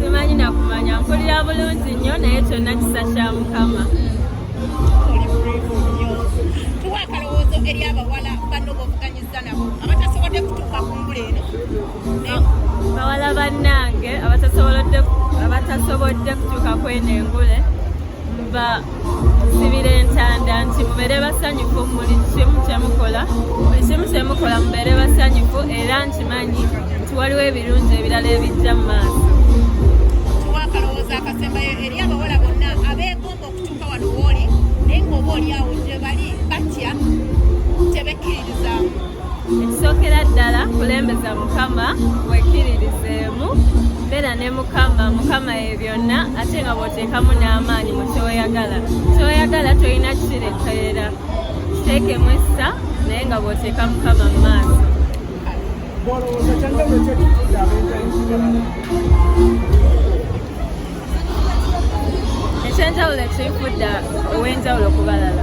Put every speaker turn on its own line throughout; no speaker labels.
simanyi
nakumanya mpulira bulungi nnyo naye kyonna kisa kya mukama
tuwa akalowoozo eri abawala banno bobuganyiza nabo abatasobodde kutuuka ku ngula eno
bawala bannange abatasobodde kutuuka kweno engule mba nsibira entanda nti mubeere basanyufu buli kimu kyemukola buli kimu kyemukola mubeere basanyufu era nkimanyi nti waliwo ebirungi ebirala ebijja mu maaso
akalowooza akasembayo eri abawala bonna abeegomba okutuuka wano wooli naye ngaoba olyawo gye bali batya tebekkiriza
ekisookera ddala kulembeza mukama wekiririzeemu beera ne mukama mukama ye byonna ate nga bwoteekamu n'amaanyi mu kyoyagala kyoyagala tolina kikirekerera kiteekemu essa naye nga bwoteeka mukama mu maaso ekyenjawulo ekinfudda ow'enjawulo kubalala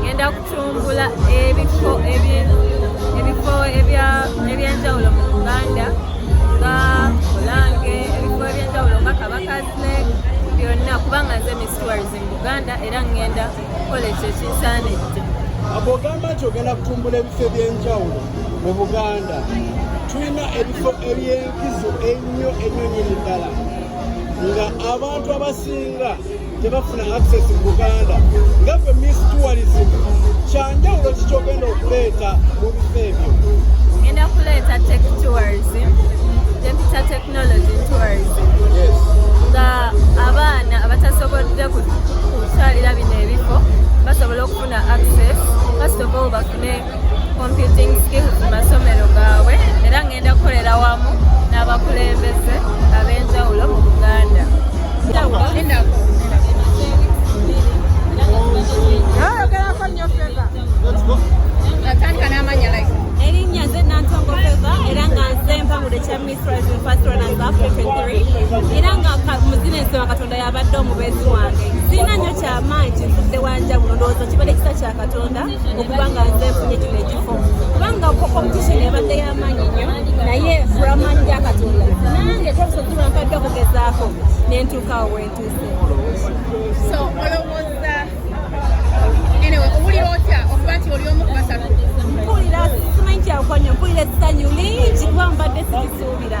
ngenda kutumbula ebifo ebifo ebyenjawulo mu uganda nga olange ebifo ebyenjawulo nga kabakazile byonna kubanga nze miss tourism uganda era ngenda kukola ekyo ekinsaanidde abogamba
nti ogenda kutumbula ebifo ebyenjawulo mu buganda tulina ebifo ebyenkizo ennyo ennyo nyini ddala nga abantu abasinga tebafuna access mu buganda nga gwe miss tourism kyanjawulo kikyogenda okuleeta mu bifo ebyo ngenda
kuleeta tech tourism gyempita technology tourism
nga
abaana abatasobodde kutwalira bino ebifo basobola okufuna access first of all bafune computing skills mu masomero gaabwe era ngenda kukolera wamu n'abakulembeze ab'enjawulo mu buganda
erinnya nze nantongo
feva era nga nze mpangula ekya miss rising first runners africa 3 era nga muzina ensema katonda yabadde omubeezi wange sirina nnyo kyamaanyi kinzudde wanjawulo ndowooza kibadde kisa kya katonda okuba nga nze nfunye kino ekifo kubanga competition ebadde y'amaanyi nnyo naye furaman ja katonda nange tobusozi lwankadde okugezaako nentuuka awo wentuuse
so olowooza enewe owulira otya okuba nti oli omu ku basatu mpulira
simanyi kyakukonya mpulira essanyu lingi kuba mbadde sikisuubira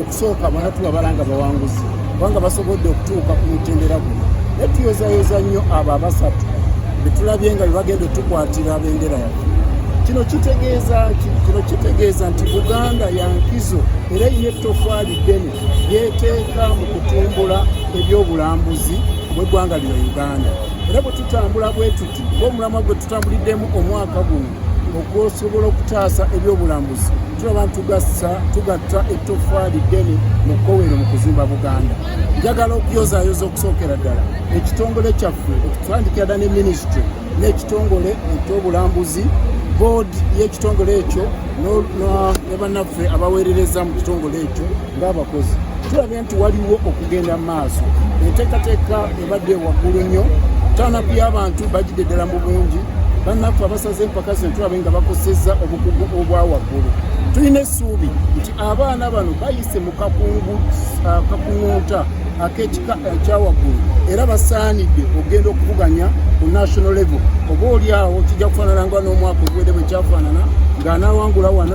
okusooka bona tubabala nga bawanguzi kubanga basobodde okutuuka ku mutendera guno naye tuyozayoza nnyo abo abasatu betulabye nga bebagenda otukwatira bendera yaffe kino kitegeeza ki kino kitegeeza nti buganda yankizo era yina ettofaali ddene yeteeka mu kutumbula ebyobulambuzi bweggwanga lino uganda era bwe tutambula bwe tuti ngaomulamwa gwe tutambuliddemu omwaka guno okusobola okutaasa ebyobulambuzi tulaba ntugasa tugatta ettoffaali ddene mu kowero mu kuzimba buganda njagala okuyozaayoza okusookera ddala ekitongole kyaffe okutandikira dda ne minisitry n'ekitongole ekyobulambuzi boodi y'ekitongole ekyo ne bannaffe abaweerereza mu kitongole ekyo ng'abakozi tulabye nti waliwo okugenda mu maaso enteekateeka ebadde waggulu nnyo tanaku y'abantu bagidde ddala mu bungi bannaffe abasaze empaka zino tulabe nga bakosezza obukugu obwa waggulu tulina essuubi nti abaana bano bayise mu kakuŋunta uh, ak'ekika ekyawaggulu uh, era basaanidde okugenda okuvuganya ku national level oba oli awo kijja kufaanana nga n'omwaka oguwede bwe kyafaanana ng'anawangula wano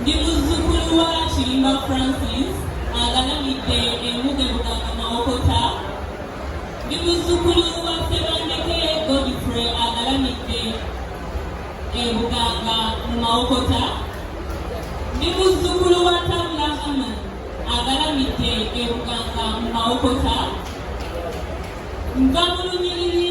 ndi muzzukulu wa kirimba francis agalamidde emuge buganga mawokota ndi muzzukulu wa sebandeke godfrey agalamidde ebuganga mu mawokota ndi muzzukulu wa tabula haman agalamidde ebuganga mu mawokota nva mu lunyiriri